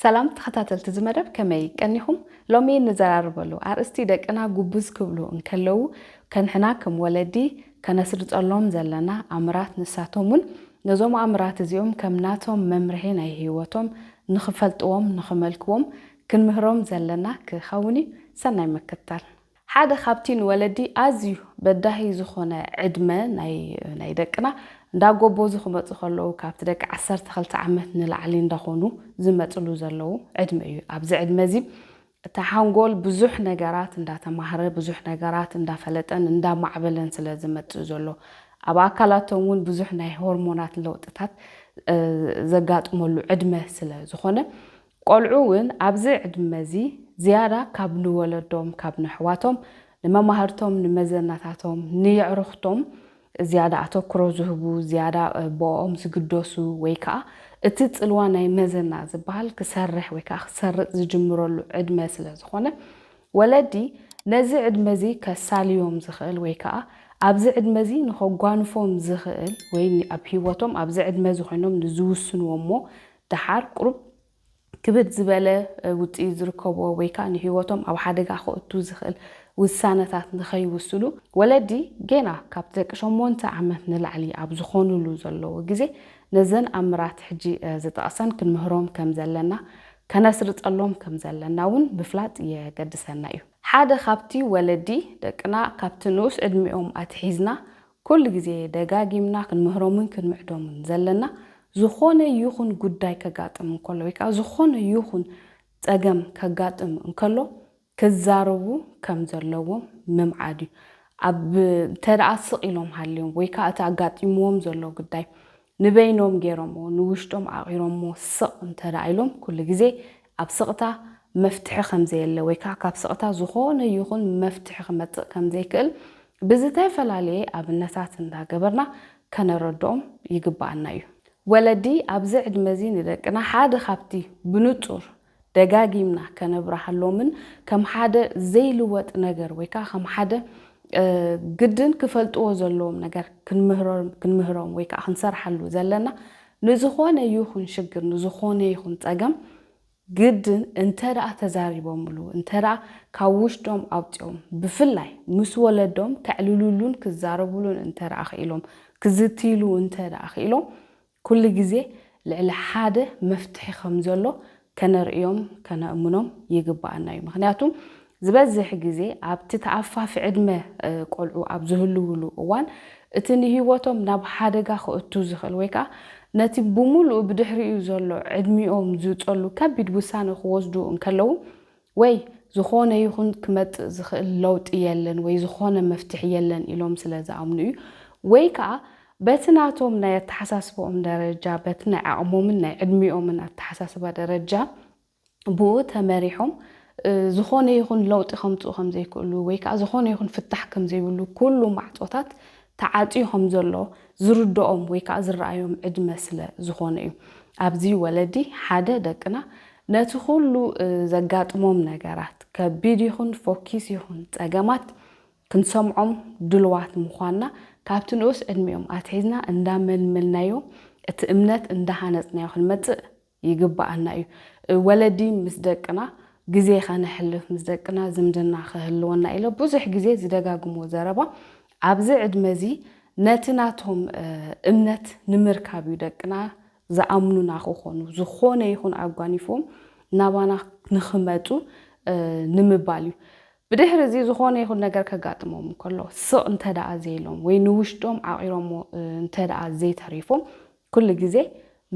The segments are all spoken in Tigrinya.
ሰላም ተኸታተልቲ እዚ መደብ ከመይ ቀኒኹም? ሎሚ እንዘራረበሉ ኣርእስቲ ደቅና ጉብዝ ክብሉ እንከለዉ ከንሕና ከም ወለዲ ከነስርጸሎም ዘለና ኣምራት ንሳቶም ውን ነዞም ኣምራት እዚኦም ከም ናቶም መምርሒ ናይ ህይወቶም ንኽፈልጥዎም ንኽመልክዎም ክንምህሮም ዘለና ክኸውን እዩ። ሰናይ ምክትታል። ሓደ ካብቲ ንወለዲ ኣዝዩ በዳሂ ዝኾነ ዕድመ ናይ ደቅና እንዳጎቦዙ ክመጹ ከለዉ ካብቲ ደቂ ዓሰርተ ክልተ ዓመት ንላዕሊ እንዳኾኑ ዝመጽሉ ዘለዉ ዕድመ እዩ። ኣብዚ ዕድመ እዚ እቲ ሓንጎል ብዙሕ ነገራት እንዳተማህረ ብዙሕ ነገራት እንዳፈለጠን እንዳማዕበለን ስለ ዝመጽእ ዘሎ ኣብ ኣካላቶም እውን ብዙሕ ናይ ሆርሞናት ለውጥታት ዘጋጥመሉ ዕድመ ስለ ዝኾነ ቆልዑ እውን ኣብዚ ዕድመ እዚ ዝያዳ ካብ ንወለዶም፣ ካብ ነሕዋቶም፣ ንመማህርቶም፣ ንመዘናታቶም፣ ንየዕሩኽቶም ዝያዳ ኣተኩሮ ዝህቡ፣ ዝያዳ ብኦም ዝግደሱ ወይ ከኣ እቲ ጽልዋ ናይ መዘና ዝበሃል ክሰርሕ ወይ ከኣ ክሰርጽ ዝጅምረሉ ዕድመ ስለ ዝኾነ ወለዲ ነዚ ዕድመ እዚ ከሳልዮም ዝኽእል ወይ ከኣ ኣብዚ ዕድመ እዚ ንኸጓንፎም ዝኽእል ወይ ኣብ ህይወቶም ኣብዚ ዕድመ እዚ ኮይኖም ንዝውስንዎ እሞ ደሓር ቁሩብ ክብድ ዝበለ ውጽኢት ዝርከቦ ወይ ከኣ ንህይወቶም ኣብ ሓደጋ ከእቱ ዝኽእል ውሳነታት ንኸይውስሉ፣ ወለዲ ጌና ካብቲ ደቂ ሸሞንተ ዓመት ንላዕሊ ኣብ ዝኾኑሉ ዘለዉ ግዜ ነዘን ኣብ ምራት ሕጂ ዝጠቕሰን ክንምህሮም ከም ዘለና ከነስርጸሎም ከም ዘለና እውን ምፍላጥ የገድሰና እዩ። ሓደ ካብቲ ወለዲ ደቅና ካብቲ ንኡስ ዕድሚኦም ኣትሒዝና ኩሉ ግዜ ደጋጊምና ክንምህሮምን ክንምዕዶምን ዘለና ዝኾነ ይኹን ጉዳይ ከጋጥም እንከሎ ወይ ከኣ ዝኾነ ይኹን ጸገም ከጋጥም እንከሎ ክዛረቡ ከም ዘለዎም ምምዓድ እዩ። ኣብ እንተደኣ ስቕ ኢሎም ሃልዮም ወይ ከኣ እቲ ኣጋጢምዎም ዘሎ ጉዳይ ንበይኖም ገይሮምዎ ንውሽጦም ዓቚሮምዎ ስቕ እንተ ኢሎም ኩሉ ግዜ ኣብ ስቕታ መፍትሒ ከም ዘየለ ወይ ከኣ ካብ ስቕታ ዝኾነ ይኹን መፍትሒ ክመጽእ ከም ዘይክእል ብዝተፈላለየ ኣብነታት እንዳ ገበርና ከነረድኦም ይግብኣና እዩ። ወለዲ ኣብዚ ዕድመ እዚ ንደቅና ሓደ ካብቲ ብንጹር ደጋጊምና ከነብርሃሎምን ከም ሓደ ዘይልወጥ ነገር ወይ ከኣ ከም ሓደ ግድን ክፈልጥዎ ዘለዎም ነገር ክንምህሮም ወይ ከኣ ክንሰርሓሉ ዘለና ንዝኾነ ይኹን ሽግር ንዝኾነ ይኹን ጸገም ግድን እንተ ደኣ ተዛሪቦምሉ እንተ ደኣ ካብ ውሽጦም ኣውጺኦም ብፍላይ ምስ ወለዶም ከዕልሉሉን ክዛረቡሉን እንተ ደኣ ክኢሎም ክዝትይሉ እንተ ደኣ ክኢሎም ኩሉ ግዜ ልዕሊ ሓደ መፍትሒ ከም ዘሎ ከነርእዮም ከነእምኖም ይግብኣና እዩ። ምኽንያቱ ዝበዝሕ ግዜ ኣብቲ ተኣፋፊ ዕድመ ቆልዑ ኣብ ዝህልዉሉ እዋን እቲ ንህይወቶም ናብ ሓደጋ ከእቱ ዝኽእል ወይ ከኣ ነቲ ብምሉኡ ብድሕሪኡ ዘሎ ዕድሚኦም ዝጸሉ ከቢድ ውሳነ ክወስዱ እንከለዉ ወይ ዝኾነ ይኹን ክመጽእ ዝኽእል ለውጢ የለን ወይ ዝኾነ መፍትሒ የለን ኢሎም ስለ ዝኣምኑ እዩ። ወይ ከኣ በቲ ናቶም ናይ ኣተሓሳስባኦም ደረጃ፣ በቲ ናይ ዓቕሞምን ናይ ዕድሚኦምን ኣተሓሳስባ ደረጃ ብኡ ተመሪሖም ዝኾነ ይኹን ለውጢ ከምጽኡ ከም ዘይክእሉ ወይ ከኣ ዝኾነ ይኹን ፍታሕ ከም ዘይብሉ ኩሉ ማዕጾታት ተዓጽዩ ከም ዘሎ ዝርድኦም ወይ ከኣ ዝረኣዮም ዕድመ ስለ ዝኾነ እዩ። ኣብዚ ወለዲ ሓደ ደቅና ነቲ ኩሉ ዘጋጥሞም ነገራት፣ ከቢድ ይኹን ፎኪስ ይኹን ጸገማት፣ ክንሰምዖም ድሉዋት ምዃንና፣ ካብቲ ንኡስ ዕድሚኦም ኣትሒዝና እንዳመልመልናዮ፣ እቲ እምነት እንዳሃነጽናዮ ክንመጽእ ይግበኣና እዩ። ወለዲ ምስ ደቅና ግዜ ከነሕልፍ፣ ምስ ደቅና ዝምድና ክህልወና ኢሎ ብዙሕ ግዜ ዝደጋግሞ ዘረባ፣ ኣብዚ ዕድመዚ ነቲ ናቶም እምነት ንምርካብ እዩ። ደቅና ዝኣምኑና ክኾኑ፣ ዝኾነ ይኹን ኣጓኒፎም ናባና ንኽመጹ ንምባል እዩ። ብድሕሪ እዚ ዝኾነ ይኹን ነገር ከጋጥሞም እንከሎ፣ ስቕ እንተ ደኣ ዘይሎም ወይ ንውሽጦም ዓቚሮሞ እንተ ደኣ ዘይተሪፎም፣ ኩሉ ግዜ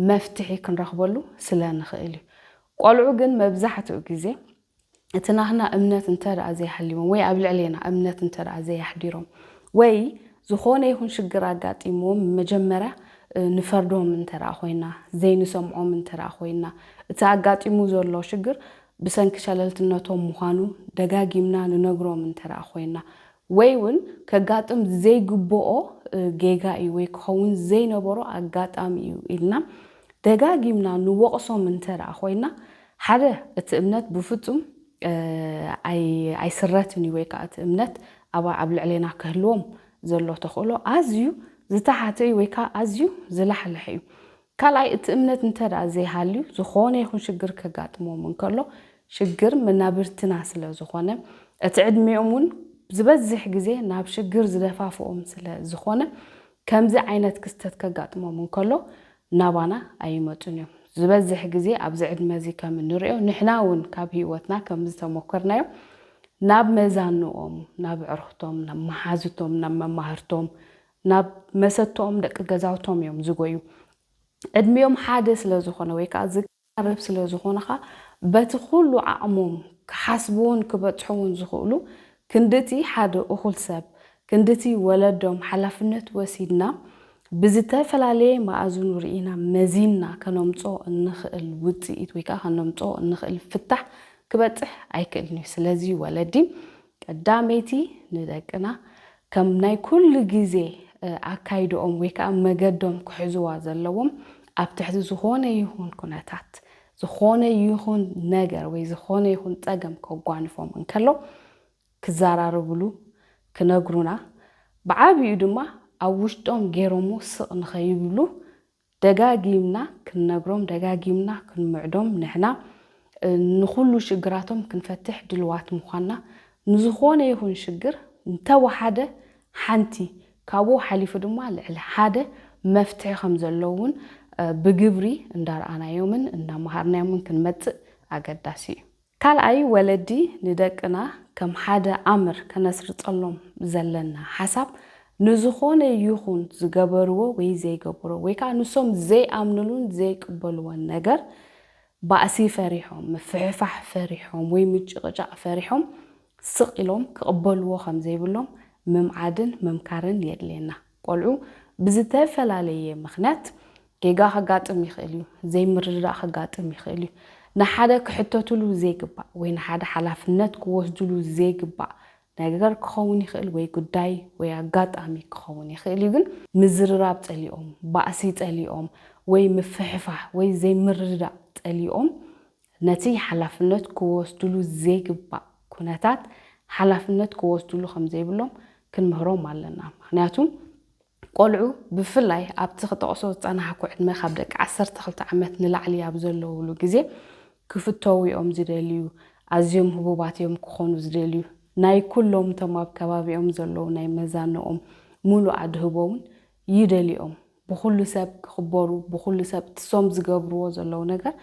መፍትሒ ክንረኽበሉ ስለ ንኽእል እዩ። ቆልዑ ግን መብዛሕትኡ ግዜ እቲ ናህና እምነት እንተ ደኣ ዘይሃልይዎም ወይ ኣብ ልዕሌና እምነት እንተ ደኣ ዘየሕዲሮም ወይ ዝኾነ ይኹን ሽግር ኣጋጢምዎም መጀመርያ ንፈርዶም እንተ ደኣ ኮይና፣ ዘይንሰምዖም እንተ ደኣ ኮይና፣ እቲ ኣጋጢሙ ዘሎ ሽግር ብሰንኪ ሸለልትነቶም ምዃኑ ደጋጊምና ንነግሮም እንተ ደኣ ኮይና ወይ ውን ከጋጥም ዘይግብኦ ጌጋ እዩ ወይ ክኸውን ዘይነበሮ ኣጋጣሚ እዩ ኢልና ደጋጊምና ንወቕሶም እንተ ደኣ ኮይና ሓደ እቲ እምነት ብፍጹም ኣይስረትን እዩ ወይ ከኣ እቲ እምነት ኣብ ልዕሌና ክህልዎም ዘሎ ተኽእሎ ኣዝዩ ዝተሓተ እዩ ወይ ከኣ ኣዝዩ ዝላሕለሐ እዩ። ካልኣይ እቲ እምነት እንተ ደኣ ዘይሃልዩ ዝኾነ ይኹን ሽግር ከጋጥሞም እንከሎ ሽግር መናብርትና ስለ ዝኾነ እቲ ዕድሜኦም እውን ዝበዝሕ ግዜ ናብ ሽግር ዝደፋፍኦም ስለ ዝኾነ ከምዚ ዓይነት ክስተት ከጋጥሞም እንከሎ ናባና ኣይመጹን እዮም። ዝበዝሕ ግዜ ኣብዚ ዕድመዚ ከም እንርእዮ ንሕና እውን ካብ ህይወትና ከም ዝተሞከርናዮ ናብ መዛኑኦም፣ ናብ ኣዕሩኽቶም፣ ናብ መሓዙቶም፣ ናብ መማህርቶም፣ ናብ መሰተኦም ደቂ ገዛውቶም እዮም ዝጎዩ። ዕድሚኦም ሓደ ስለ ዝኾነ ወይ ከኣ ኣበብ ስለ ዝኾኑ ኸኣ በቲ ኹሉ ዓቕሞም ክሓስብዎን ክበጽሕዎን ዝኽእሉ ክንድቲ ሓደ እኹል ሰብ ክንድቲ ወለዶም ሓላፍነት ወሲድና ብዝተፈላለየ መኣዝኑ ርኢና መዚንና ከነምጽኦ እንኽእል ውጽኢት ወይ ከኣ ከነምጽኦ እንኽእል ፍታሕ ክበጽሕ ኣይክእልን'ዩ። ስለዚ ወለዲ ቀዳመይቲ ንደቅና ከም ናይ ኩሉ ግዜ ኣካይድኦም ወይ ከኣ መገዶም ክሕዝዋ ዘለዎም ኣብ ትሕቲ ዝኾነ ይኹን ኩነታት ዝኾነ ይኹን ነገር ወይ ዝኾነ ይኹን ጸገም ከጓንፎም እንከሎ ክዘራረብሉ ክነግሩና ብዓቢኡ ድማ ኣብ ውሽጦም ጌሮሞ ስቕ ንኸይብሉ ደጋጊምና ክንነግሮም ደጋጊምና ክንምዕዶም ንሕና ንኹሉ ሽግራቶም ክንፈትሕ ድልዋት ምዃንና ንዝኾነ ይኹን ሽግር እንተወሓደ ሓንቲ ካብኡ ሓሊፉ ድማ ልዕሊ ሓደ መፍትሒ ከምዘሎ እውን ብግብሪ እንዳርኣናዮምን እንዳመሃርናዮምን ክንመፅእ ኣገዳሲ እዩ። ካልኣይ ወለዲ ንደቅና ከም ሓደ ኣምር ከነስርጸሎም ዘለና ሓሳብ ንዝኾነ ይኹን ዝገበርዎ ወይ ዘይገብሮ ወይ ከኣ ንሶም ዘይኣምንሉን ዘይቅበልዎን ነገር ባእሲ ፈሪሖም፣ ምፍሕፋሕ ፈሪሖም ወይ ምጭቕጫቕ ፈሪሖም ስቕ ኢሎም ክቕበልዎ ከም ዘይብሎም ምምዓድን ምምካርን የድልየና። ቆልዑ ብዝተፈላለየ ምኽንያት ጌጋ ከጋጥም ይኽእል እዩ፣ ዘይምርድዳእ ከጋጥም ይኽእል እዩ። ንሓደ ክሕተቱሉ ዘይግባእ ወይ ንሓደ ሓላፍነት ክወስዱሉ ዘይግባእ ነገር ክኸውን ይኽእል ወይ ጉዳይ ወይ ኣጋጣሚ ክኸውን ይኽእል እዩ ግን ምዝርራብ ጸሊኦም፣ ባእሲ ጸሊኦም ወይ ምፍሕፋሕ ወይ ዘይምርድዳእ ጸሊኦም ነቲ ሓላፍነት ክወስድሉ ዘይግባእ ኩነታት ሓላፍነት ክወስድሉ ከም ዘይብሎም ክንምህሮም ኣለና። ምኽንያቱ ቆልዑ ብፍላይ ኣብቲ ክጠቕሶ ዝጸናሕኩ ዕድመ ካብ ደቂ ዓሰርተ ክልተ ዓመት ንላዕሊ ኣብ ዘለውሉ ግዜ ክፍተዉ እዮም ዝደልዩ፣ ኣዝዮም ህቡባት እዮም ክኾኑ ዝደልዩ፣ ናይ ኩሎም እቶም ኣብ ከባቢኦም ዘለዉ ናይ መዛንኦም ምሉእ ኣድህቦ እውን ይደልዩ'ዮም ብኹሉ ሰብ ክኽበሩ ብኹሉ ሰብ እቲሶም ዝገብርዎ ዘለዉ ነገር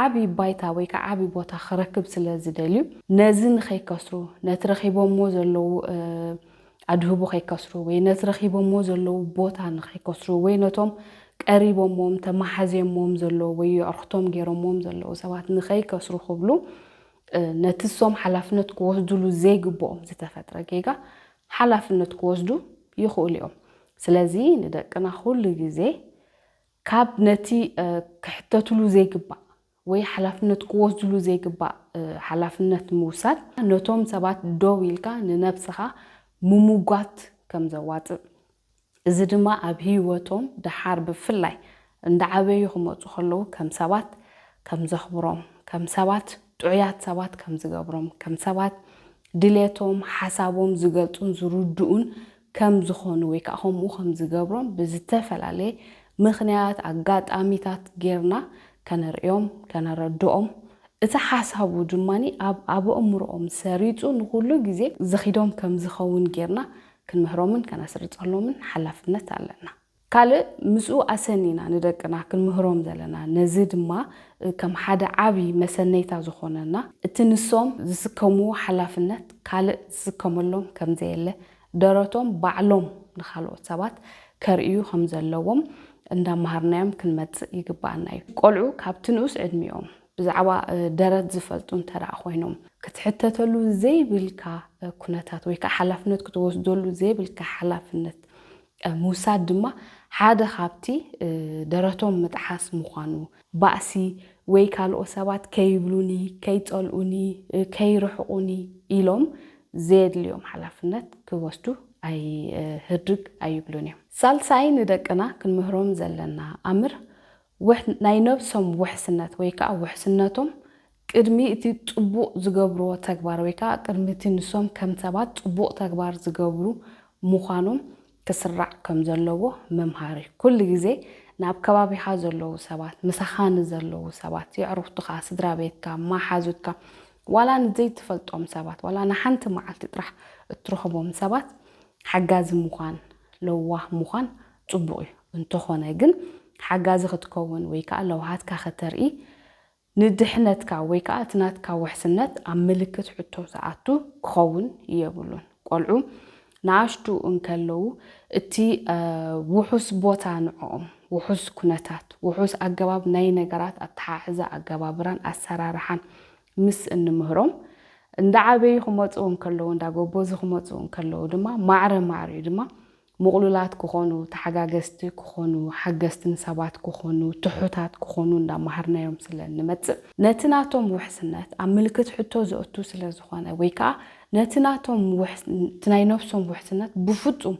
ዓቢ ባይታ ወይ ከኣ ዓቢ ቦታ ክረክብ ስለ ዝደልዩ ነዚ ንኸይከስሩ ነቲ ረኺቦምዎ ዘለዉ ኣድህቦ ከይከስሩ ወይ ነቲ ረኺቦምዎ ዘለዉ ቦታ ንኸይከስሩ ወይ ነቶም ቀሪቦምዎም ተማሓዝዮምዎም ዘለዉ ወይ የዕሩኽቶም ጌሮምዎም ዘለዉ ሰባት ንኸይከስሩ ክብሉ ነቲሶም ሓላፍነት ክወስዱሉ ዘይግብኦም ዝተፈጥረ ጌጋ ሓላፍነት ክወስዱ ይኽእሉ እዮም። ስለዚ ንደቅና ኩሉ ግዜ ካብ ነቲ ክሕተትሉ ዘይግባእ ወይ ሓላፍነት ክወስድሉ ዘይግባእ ሓላፍነት ምውሳድ ነቶም ሰባት ደው ኢልካ ንነብስኻ ምሙጓት ከም ዘዋጽእ እዚ ድማ ኣብ ህይወቶም ደሓር ብፍላይ እንዳዓበዩ ክመጹ ከለዉ ከም ሰባት ከም ዘኽብሮም፣ ከም ሰባት ጥዑያት ሰባት ከም ዝገብሮም፣ ከም ሰባት ድሌቶም፣ ሓሳቦም ዝገልጹን ዝርድኡን ከም ዝኾኑ ወይ ከኣ ከምኡ ከም ዝገብሮም ብዝተፈላለየ ምኽንያት፣ ኣጋጣሚታት ጌርና ከነርእዮም፣ ከነረድኦም፣ እቲ ሓሳቡ ድማ ኣብ ኣበእምርኦም ሰሪጹ ንኹሉ ግዜ ዝኺዶም ከም ዝኸውን ጌርና ክንምህሮምን ከነስርጸሎምን ሓላፍነት ኣለና። ካልእ ምስኡ ኣሰኒና ንደቅና ክንምህሮም ዘለና ነዚ ድማ ከም ሓደ ዓቢ መሰነይታ ዝኾነና እቲ ንሶም ዝስከምዎ ሓላፍነት ካልእ ዝስከመሎም ከምዘየለ ደረቶም ባዕሎም ንኻልኦት ሰባት ከርእዩ ከምዘለዎም እንዳማሃርናዮም ክንመጽእ ይግባኣና እዩ። ቆልዑ ካብቲ ንኡስ ዕድሚኦም ብዛዕባ ደረት ዝፈልጡ እንተደኣ ኮይኖም፣ ክትሕተተሉ ዘይብልካ ኩነታት ወይ ከኣ ሓላፍነት ክትወስደሉ ዘይብልካ ሓላፍነት ምውሳድ ድማ ሓደ ካብቲ ደረቶም ምጥሓስ ምዃኑ፣ ባእሲ ወይ ካልኦ ሰባት ከይብሉኒ፣ ከይጸልኡኒ፣ ከይርሕቑኒ ኢሎም ዘየድልዮም ሓላፍነት ክወስዱ ኣይህድግ ኣይብሉን እዮም። ሳልሳይ ንደቅና ክንምህሮም ዘለና ኣምር ውሕ ናይ ነብሶም ውሕስነት ወይ ከኣ ውሕስነቶም ቅድሚ እቲ ጽቡቕ ዝገብርዎ ተግባር ወይ ከኣ ቅድሚ እቲ ንሶም ከም ሰባት ጽቡቕ ተግባር ዝገብሩ ምዃኖም ክስራዕ ከም ዘለዎ ምምሃር እዩ። ኩሉ ግዜ ንኣብ ከባቢኻ ዘለዉ ሰባት፣ ምሳኻ ንዘለዉ ሰባት፣ የዕሩኽትኻ፣ ስድራ ቤትካ፣ መሓዙትካ፣ ዋላ ንዘይትፈልጦም ሰባት፣ ዋላ ንሓንቲ መዓልቲ ጥራሕ እትረኽቦም ሰባት ሓጋዚ ምዃን፣ ለዋህ ምዃን ጽቡቕ እዩ፣ እንተኾነ ግን ሓጋዚ ክትከውን ወይ ከኣ ለውሃትካ ከተርኢ ንድሕነትካ ወይ ከኣ እቲ ናትካ ውሕስነት ኣብ ምልክት ሕቶ ዝኣቱ ክኸውን የብሉን። ቆልዑ ንኣሽቱ እንከለዉ እቲ ውሑስ ቦታ ንዕኦም ውሑስ ኩነታት፣ ውሑስ ኣገባብ ናይ ነገራት ኣተሓሕዛ፣ ኣገባብራን ኣሰራርሓን ምስ እንምህሮም እንዳዓበዩ ክመጹ እንከለዉ እንዳጎበዙ ክመጹ እንከለዉ ድማ ማዕረ ማዕሪኡ ድማ ምቕሉላት ክኾኑ፣ ተሓጋገዝቲ ክኾኑ፣ ሓገዝቲ ንሰባት ክኾኑ፣ ትሑታት ክኾኑ እንዳማሃርናዮም ስለ እንመጽእ፣ ነቲ ናቶም ውሕስነት ኣብ ምልክት ሕቶ ዘእቱ ስለ ዝኾነ ወይ ከኣ ነቲ ናቶም እቲ ናይ ነብሶም ውሕስነት ብፍጹም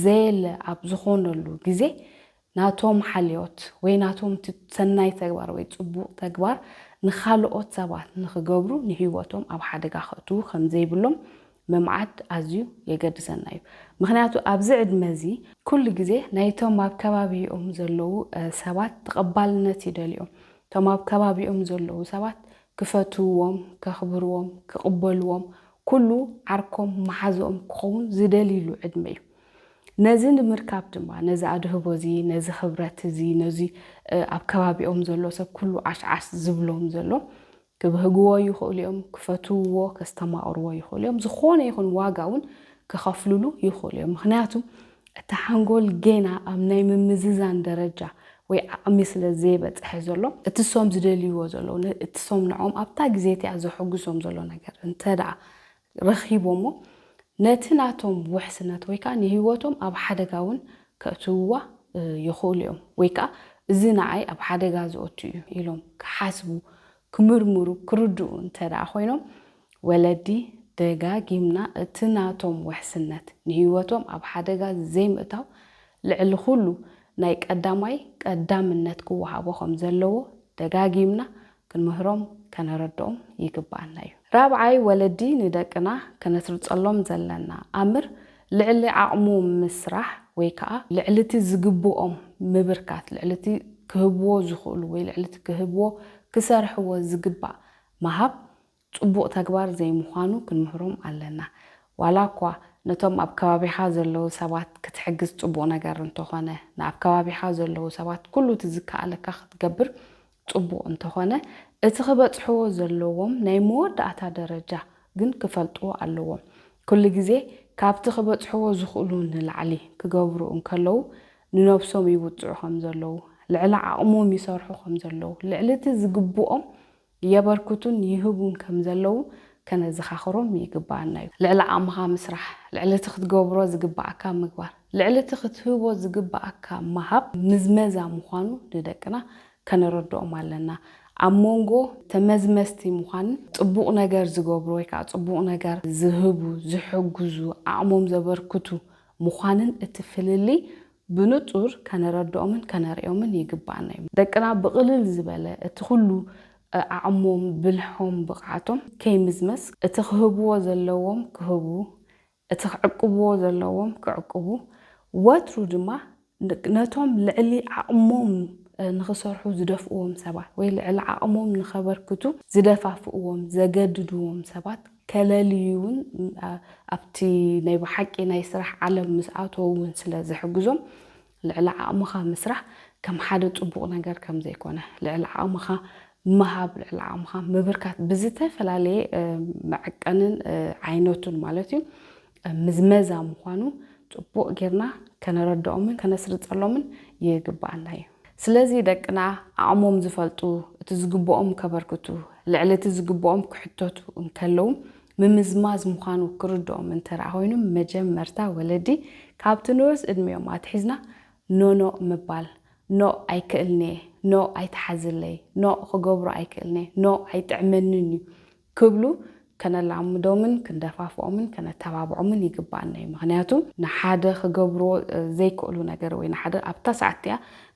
ዘየለ ኣብ ዝኾነሉ ግዜ ናቶም ሓልዮት ወይ ናቶም እቲ ሰናይ ተግባር ወይ ጽቡቕ ተግባር ንኻልኦት ሰባት ንኽገብሩ ንህይወቶም ኣብ ሓደጋ ከእትዉ ከም ዘይብሎም ምምዓድ ኣዝዩ የገድሰና እዩ። ምኽንያቱ ኣብዚ ዕድመ እዚ ኩሉ ግዜ ናይቶም ኣብ ከባቢኦም ዘለዉ ሰባት ተቐባልነት ይደልዩ እዮም። እቶም ኣብ ከባቢኦም ዘለዉ ሰባት ክፈትውዎም፣ ከኽብርዎም፣ ክቕበልዎም፣ ኩሉ ዓርኮም መሓዝኦም ክኸውን ዝደልይሉ ዕድመ እዩ። ነዚ ንምርካብ ድማ ነዚ ኣድህቦ እዚ ነዚ ክብረት እዚ ነዚ ኣብ ከባቢኦም ዘሎ ሰብ ኩሉ ዓሽዓሽ ዝብሎም ዘሎ ክብህግዎ ይኽእሉ እዮም፣ ክፈትውዎ ከስተማቕርዎ ይኽእሉ እዮም፣ ዝኾነ ይኹን ዋጋ እውን ክኸፍልሉ ይኽእሉ እዮም። ምክንያቱ እቲ ሓንጎል ጌና ኣብ ናይ ምምዝዛን ደረጃ ወይ ዓቕሚ ስለ ዘይበጽሐ ዘሎ እቲ እሶም ዝደልይዎ ዘለዉ እቲ እሶም ንዕኦም ኣብታ ግዜ እቲኣ ዘሐጉሶም ዘሎ ነገር እንተድኣ ረኺቦሞ ነቲ ናቶም ውሕስነት ወይ ከኣ ንህይወቶም ኣብ ሓደጋ እውን ከእትውዋ ይኽእሉ እዮም። ወይ ከኣ እዚ ንዓይ ኣብ ሓደጋ ዘእቱ እዩ ኢሎም ክሓስቡ፣ ክምርምሩ፣ ክርድኡ እንተድኣ ኮይኖም፣ ወለዲ ደጋጊምና እቲ ናቶም ውሕስነት ንህይወቶም ኣብ ሓደጋ ዘይምእታው ልዕሊ ኩሉ ናይ ቀዳማይ ቀዳምነት ክወሃቦ ከም ዘለዎ ደጋጊምና ክንምህሮም ከነረድኦም ይግብኣና እዩ። ራብዓይ፣ ወለዲ ንደቅና ከነስርጸሎም ዘለና ኣምር ልዕሊ ዓቕሙ ምስራሕ ወይ ከኣ ልዕሊቲ ዝግብኦም ምብርካት፣ ልዕሊቲ ክህብዎ ዝኽእሉ ወይ ልዕሊቲ ክህብዎ ክሰርሕዎ ዝግባእ ምሃብ ጽቡቕ ተግባር ዘይምዃኑ ክንምህሮም ኣለና። ዋላኳ ነቶም ኣብ ከባቢኻ ዘለዉ ሰባት ክትሕግዝ ጽቡቕ ነገር እንተኾነ፣ ንኣብ ከባቢኻ ዘለዉ ሰባት ኩሉ እቲ ዝከኣለካ ክትገብር ጽቡቕ እንተኾነ፣ እቲ ክበጽሕዎ ዘለዎም ናይ መወዳእታ ደረጃ ግን ክፈልጥዎ ኣለዎም። ኩሉ ግዜ ካብቲ ክበጽሕዎ ዝኽእሉ ንላዕሊ ክገብሩ እንከለዉ ንነብሶም ይውጽዑ ከምዘለዉ፣ ልዕሊ ዓቕሞም ይሰርሑ ከምዘለዉ፣ ልዕሊ እቲ ዝግብኦም የበርክቱን ይህቡን ከም ዘለዉ ከነዘኻኽሮም ይግብኣና እዩ። ልዕሊ ዓቕምኻ ምስራሕ፣ ልዕሊ እቲ ክትገብሮ ዝግብኣካ ምግባር፣ ልዕሊ እቲ ክትህቦ ዝግብኣካ ምሃብ ምዝመዛ ምዃኑ ንደቅና ከነረድኦም ኣለና። ኣብ ሞንጎ ተመዝመዝቲ ምዃንን ጽቡቕ ነገር ዝገብሩ ወይ ከኣ ጽቡቕ ነገር ዝህቡ፣ ዝሕግዙ፣ ዓቕሞም ዘበርክቱ ምዃንን እቲ ፍልልይ ብንጹር ከነረድኦምን ከነርእዮምን ይግብኣና እዩ። ደቅና ብቕልል ዝበለ እቲ ኩሉ ዓቕሞም፣ ብልሖም፣ ብቕዓቶም ከይምዝመዝ እቲ ክህብዎ ዘለዎም ክህቡ፣ እቲ ክዕቅብዎ ዘለዎም ክዕቅቡ፣ ወትሩ ድማ ነቶም ልዕሊ ዓቕሞም ንኽሰርሑ ዝደፍእዎም ሰባት ወይ ልዕሊ ዓቕሞም ንኸበርክቱ ዝደፋፍእዎም፣ ዘገድድዎም፣ ሰባት ተለልዩ ውን ኣብቲ ናይ ብሓቂ ናይ ስራሕ ዓለም ምስ ኣተዉ ውን ስለ ዝሕግዞም ልዕሊ ዓቕምኻ ምስራሕ ከም ሓደ ጽቡቕ ነገር ከም ዘይኮነ ልዕሊ ዓቕምኻ ምሃብ ልዕሊ ዓቕምኻ ምብርካት ብዝተፈላለየ መዐቀንን ዓይነቱን ማለት እዩ ምዝመዛ ምዃኑ ጽቡቕ ጌርና ከነረድኦምን ከነስርጸሎምን ይግብኣና እዩ። ስለዚ ደቅና ዓቕሞም ዝፈልጡ፣ እቲ ዝግብኦም ከበርክቱ፣ ልዕሊ እቲ ዝግብኦም ክሕተቱ እንከለዉ ምምዝማዝ ምዃኑ ክርድኦም እንተደኣ ኮይኑ መጀመርታ ወለዲ ካብቲ ንኡስ ዕድሚኦም ኣትሒዝና ኖኖ ምባል፣ ኖእ ኣይክእልን'የ፣ ኖእ ኣይትሓዝለይ፣ ኖእ ክገብሮ ኣይክእልን'የ፣ ኖእ ኣይጥዕመንን'ዩ፣ ክብሉ ከነላምዶምን ክንደፋፍኦምን ከነተባብዖምን ይግብኣና እዩ። ምኽንያቱ ንሓደ ክገብርዎ ዘይክእሉ ነገር ወይ ንሓደ ኣብታ ሰዓት እቲኣ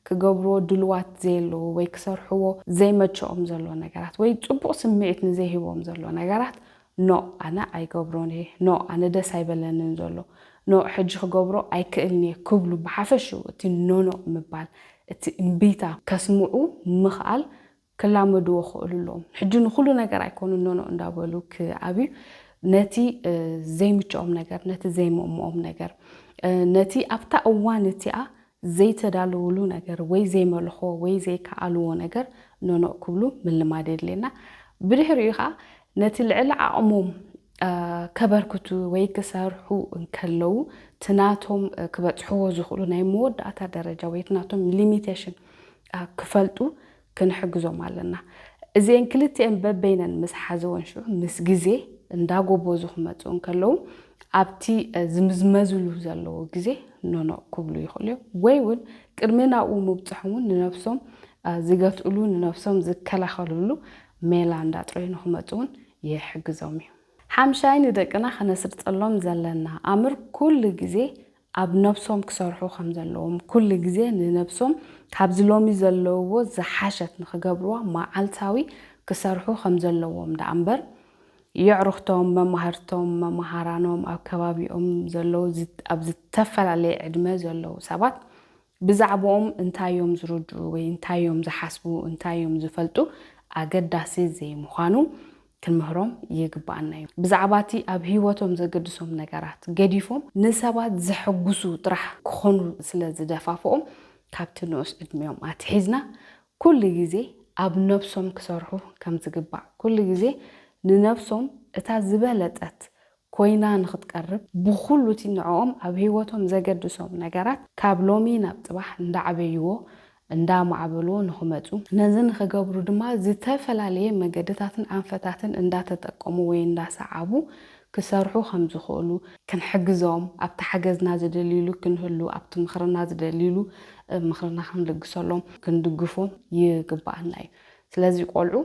ክገብርዎ ድሉዋት ዘየለዉ ወይ ክሰርሕዎ ዘይመቸኦም ዘሎ ነገራት ወይ ጽቡቕ ስምዒት ንዘይህቦም ዘሎ ነገራት No ኣነ ኣይገብሮን እየ፣ No ኣነ ደስ ኣይበለንን ዘሎ፣ No ሕጂ ክገብሮ ኣይክእልን እየ ክብሉ ብሓፈሽኡ እቲ ኖኖእ ምባል እቲ እምቢታ ከስምዑ ምኽኣል ክላመድዎ ክእሉ ኣለዎም። ሕጂ ንኹሉ ነገር ኣይኮኑን ኖኖእ እንዳበሉ ክኣብዩ ነቲ ዘይምቸኦም ነገር፣ ነቲ ዘይምእምኦም ነገር፣ ነቲ ኣብታ እዋን እቲኣ ዘይተዳለዉሉ ነገር ወይ ዘይመልኽዎ ወይ ዘይከኣልዎ ነገር ኖኖእ ክብሉ ምልማድ የድልየና። ብድሕሪኡ ከኣ ነቲ ልዕሊ ዓቕሞም ከበርክቱ ወይ ክሰርሑ እንከለዉ እቲ ናቶም ክበጽሕዎ ዝኽእሉ ናይ መወዳእታ ደረጃ ወይ እቲ ናቶም ሊሚቴሽን ክፈልጡ ክንሕግዞም ኣለና። እዚኤን ክልቲኤን በበይነን ምስ ሓዘወን ሽዑ ምስ ግዜ እንዳጎቦዙ ክመጽኡ እንከለዉ ኣብቲ ዝምዝመዝሉ ዘለዎ ግዜ ኖኖ ክብሉ ይኽእሉ እዮም። ወይ እውን ቅድሚ ናብኡ ምብጽሖም እውን ንነብሶም ዝገትእሉ ንነብሶም ዝከላኸልሉ ሜላ እንዳጥረዩኑ ክመጹ እውን ይሕግዞም እዩ። ሓምሻይ ንደቅና ከነስርጸሎም ዘለና ኣምር ኩሉ ግዜ ኣብ ነብሶም ክሰርሑ ከም ዘለዎም፣ ኩሉ ግዜ ንነብሶም ካብዚ ሎሚ ዘለውዎ ዝሓሸት ንኽገብርዋ መዓልታዊ ክሰርሑ ከም ዘለዎም ደኣ እምበር፣ የዕሩኽቶም፣ መማህርቶም፣ መማሃራኖም፣ ኣብ ከባቢኦም ዘለዉ ኣብ ዝተፈላለየ ዕድመ ዘለዉ ሰባት ብዛዕብኦም እንታይ እዮም ዝርድኡ ወይ እንታይ እዮም ዝሓስቡ፣ እንታይ እዮም ዝፈልጡ ኣገዳሲ ዘይምዃኑ ክንምህሮም ይግብኣና እዩ። ብዛዕባ እቲ ኣብ ህይወቶም ዘገድሶም ነገራት ገዲፎም ንሰባት ዘሐጕሱ ጥራሕ ክዀኑ ስለ ዝደፋፍኦም፣ ካብቲ ንኡስ ዕድሚኦም ኣትሒዝና ኵሉ ግዜ ኣብ ነብሶም ክሰርሑ ከም ዝግባእ፣ ኵሉ ግዜ ንነብሶም እታ ዝበለጸት ኮይና ንኽትቀርብ ብኹሉ እቲ ንዕኦም ኣብ ህይወቶም ዘገድሶም ነገራት ካብ ሎሚ ናብ ፅባሕ እንዳዕበይዎ እንዳማዕበልዎ ንኽመፁ ነዚ ንኽገብሩ ድማ ዝተፈላለየ መገድታትን ኣንፈታትን እንዳተጠቀሙ ወይ እንዳሰዓቡ ክሰርሑ ከም ዝኽእሉ ክንሕግዞም ኣብቲ ሓገዝና ዝደልይሉ ክንህሉ ኣብቲ ምኽርና ዝደልይሉ ምኽርና ክንልግሰሎም ክንድግፎም ይግበኣና እዩ። ስለዚ ቆልዑ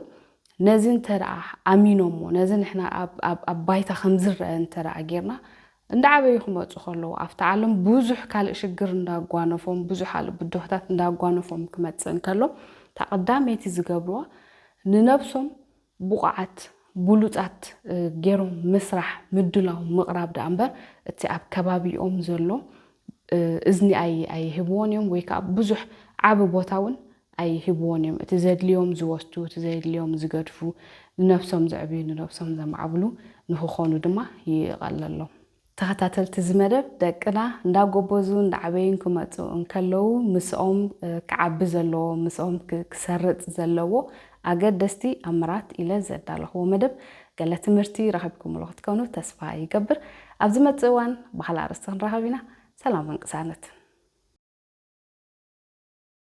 ነዚ እንተደኣ ኣሚኖሞ ነዚ ንሕና ኣብ ኣብ ኣብ ባይታ ከም ዝረኣ እንተደኣ ጌርና እንዳዓበዩ ክመጹ ከለዉ ኣብቲ ዓለም ብዙሕ ካልእ ሽግር እንዳጓነፎም ብዙሕ ካልእ ብድሆታት እንዳጓነፎም ክመጽእ እንከሎ እታ ቀዳመይቲ ዝገብርዋ ንነብሶም ብቑዓት ብሉጻት ጌሮም ምስራሕ ምድላው ምቕራብ ደኣ እምበር እቲ ኣብ ከባቢኦም ዘሎ እዝኒ ኣይ ኣይህብዎን እዮም ወይ ከኣ ብዙሕ ዓቢ ቦታ እውን ኣይህብዎን እዮም እቲ ዘድልዮም ዝወስዱ እቲ ዘየድልዮም ዝገድፉ ንነብሶም ዘዕብዩ ንነብሶም ዘማዕብሉ ንኽኾኑ ድማ ይቐለሎም። ተኸታተልቲ እዚ መደብ ደቅና እንዳጎበዙ እንዳዓበዩን ክመጹ እንከለዉ ምስኦም ክዓቢ ዘለዎ ምስኦም ክሰርጽ ዘለዎ ኣገደስቲ ኣምራት ኢለ ዘዳለኽዎ መደብ ገለ ትምህርቲ ረኺብኩምሉ ክትከኑ ተስፋ ይገብር ኣብ ዝመጽእ እዋን ብኻልእ ኣርእስቲ ክንራኸብ ኢና ሰላምን ቅሳነትን።